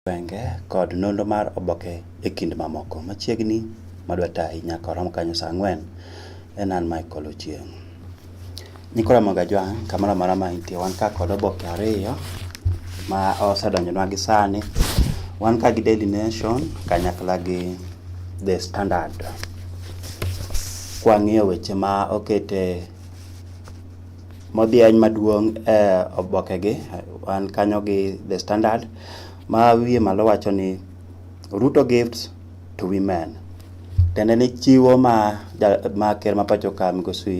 gwenge kod nonro mar oboke e kind mamoko. Machiegni madwa tayi nyaka orom kanyo saa ang'wen en an Michael Ochieng'. Nicola Mogajwang' kamoro amora ma intie wan ka kod oboke ariyo ma osedonjonwa gi sani. Wan ka gi Daily Nation kanyakla gi The Standard. Kwang'iyo weche ma okete Modhiany maduong' e obokege wan kanyo gi The Standard ma wiye malo wacho ni Ruto gives to women. Tiende ni chiwo ma ker ma pacho ka migosi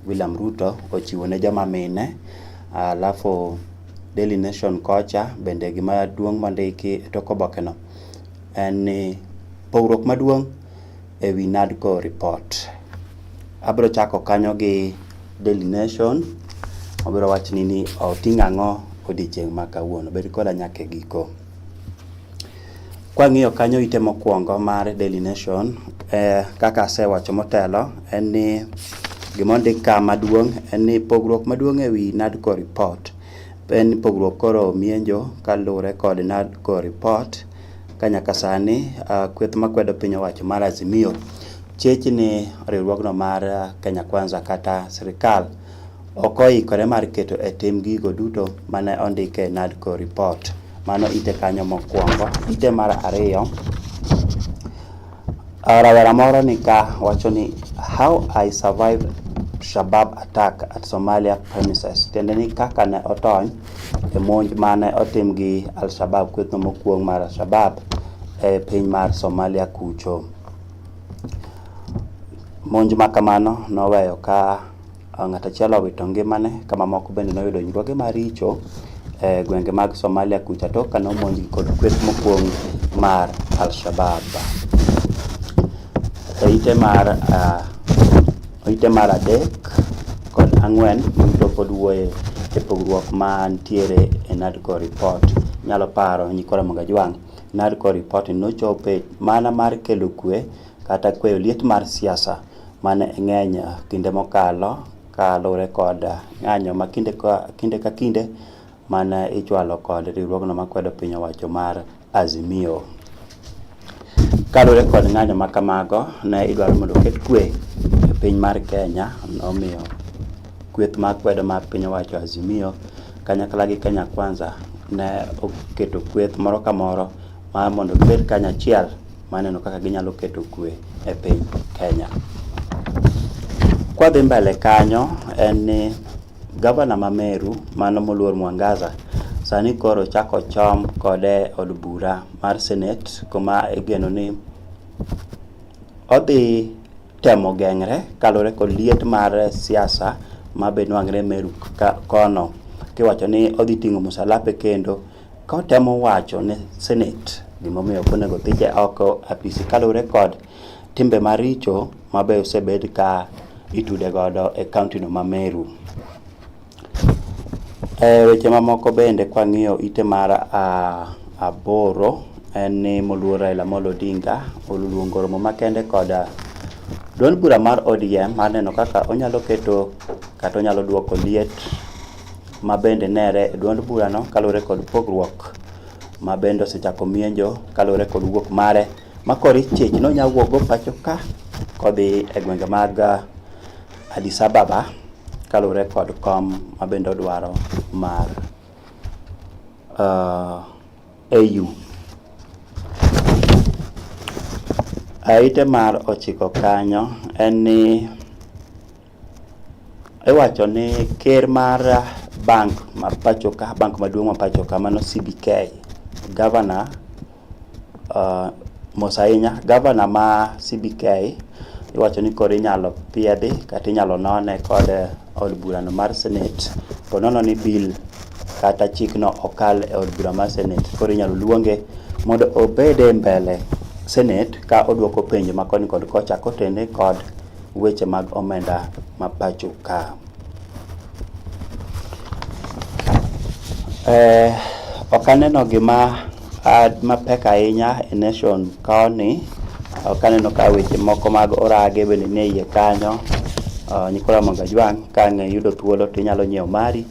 William Ruto ochiwo ne joma mine. Alafu Daily Nation kocha bende gima duong' mondiki e tok obokeno en ni pogruok maduong'. e wi NADCO report. Abiro chako kanyo gi Daily Nation, obiro wachni ni oting'o ang'o odiechieng' ma kawuono, bed koda nyaka e giko. Kwang'iyo kanyo ite mokwongo mar Daily Nation, eh, kaka asewacho motelo en ni gima ondik ka maduong' en ni pogruok maduong' e wi NADCO report en ni pogruok koro mienjo kaluwore kod NADCO report ka nyaka sani kweth makwedo piny owacho mar Azimio chich ni riwruogno mar Kenya Kwanza kata sirikal ok oikore mar keto e tim gigo duto mane ondik e NADCO report. Mano ite kanyo mokwongo. Ite mar ariyo, Uh, Rawera moro ni ka wacho ni how I survived Shabab attack at Somalia premises, tiende ni kaka ne otony e monj mane otim gi Al-Shabab, kwethno mokuong' mar Al-Shabab e piny mar Somalia kucho. Monj ma kamano noweyo ka Ng'at achiel owito ngimane ka mamoko bende noyudo hinyruoge maricho e gwenge mag Somalia kucha tok kane omonjgi kod kweth mokuong' mar Al-Shabab. Oite mar ah, oite mar adek kod ang'wen duto pod wuoye e pogruok ma nitiere e NADCO report. Inyalo paro Nyikora Mongajwang', NADCO report nochope mana mar kelo kwe kata kweyo liet mar siasa mane ng'eny eh, kinde mokalo kaluwore kod eh, ng'anyo ma kinde ka kinde, ka kinde mane ichwalo kod riwruogno makwedo piny owacho mar Azimio. Kaluwore kod ng'anyo ma kamago, ne idwaro mondo oket kwe e piny mar Kenya, nomiyo kweth ma kwedo mar piny owacho Azimio kanyakla gi Kenya Kwanza ne oketo kweth moro ka moro mar mondo gibed kanyachiel maneno kaka ginyalo keto kwe e piny Kenya. Kwadhi mbele kanyo en ni gavana ma Meru mano moluor Mwangaza sani koro chako chom kode od bura mar Senate kuma igeno ni odhi temo geng're kaluwore kod liet mar siasa ma be nwang're Meru kono kiwacho ni odhi ting'o musalape kendo Ka otemo wacho ne Senate gimomiyo ok onego thiche oko apisi kaluwore kod timbe maricho mabe osebed ka itude godo e kaunti no ma Meru. E weche mamoko bende kwang'iyo ite mar aboro en ni moluor Raila Amolo Odinga oluongo romo makende kod duond bura mar ODM mar neno kaka onyalo keto kata onyalo duoko liet ma bende nere e duond burano kaluwore kod pogruok ma bende osechako mienjo kaluwore kod wuok mare ma kori chich nonya wuokgo pacho ka kodhi e gwenge mag uh, Addis Ababa kaluwore kod kom ma bende odwaro mar uh, AU. Aite mar ochiko kanyo en ni Iwacho ni ker mar bank ma pacho ka, bank maduong' ma pacho ka mano CBK, gavana uh, mos ahinya, gavana ma CBK iwacho ni koro inyalo piedhi kata inyalo none kod eh, od burano mar senate po nono ni bill kata chikno okal e od bura mar senate koro inyalo luonge mondo obed e mbele senate ka odwoko penjo ma koni kod kocha kotene kod weche mag omenda ma pacho ka. Eh, ok aneno gima ah, mapek ahinya e nation koni. Ok aneno ka weche moko mag orage bende nie iye kanyo. Uh, Nicola Mangajwang' ka ng'e yudo thuolo to inyalo nyiewo mari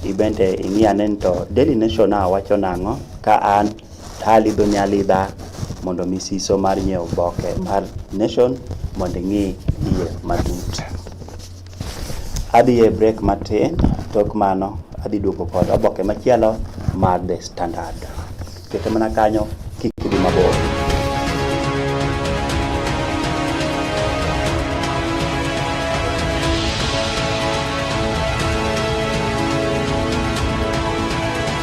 ibende ing'i ane ni to Daily Nation a wacho nang'o ka an Alidho nyalidha mondo mi siso mar nyiewo oboke mar Nation mondo ing'i iye matut. Adhi e break matin, tok mano adhi duogo kod oboke machielo mar The Standard. Kete mana kanyo kik idhi mabor.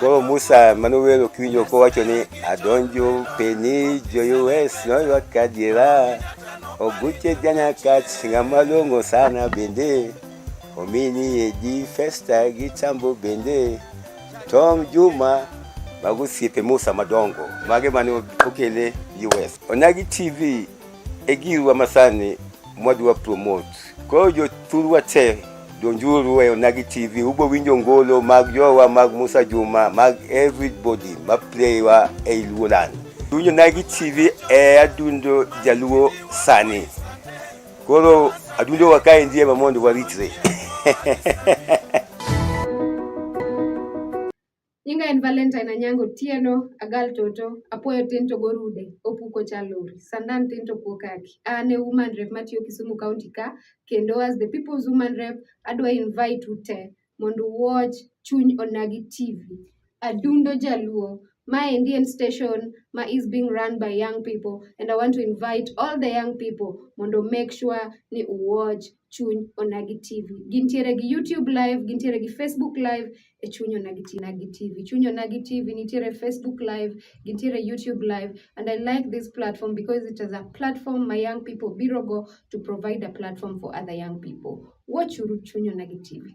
Koro Musa mane owero kiwinjo kowacho ni adonjo peni joyues noywa kadiera oguche janakat ng'ama long'o sana bende omini edi festa gi chambo bende Tom Juma mago osiepe Musa madongo mage mane okele US. Onagi TV e girwa masani mwadwa promote. Koro jothurwa te donjuru e Onagi TV, ubo winjo ngolo mag jowa mag Musa Juma mag everybody ma playwa e Luo land. Winjo Onagi TV e adundo jaluo sani. Koro adundo wakae ndiye mamondo waritre. Nyinga en Valentine Anyango Tieno, agal toto, apuoyo tin to gorude, opuko chalori, sandan tin to puo kaki. An e woman rep matiyo Kisumu County ka, kendo as the people's woman rep, adwa invite u te mondo watch Chuny Onagi TV. Adundo Jaluo, my Indian station ma is being run by young people and I want to invite all the young people mondo make sure ni u watch chuny Onagi TV. Gintiere gi YouTube live, gintiere gi Facebook live e chuny Onagi TV. Onagi TV. Chuny Onagi TV nitiere Facebook live, gintiere YouTube live and I like this platform because it is a platform my young people biro go to provide a platform for other young people. Watch uru chuny Onagi TV.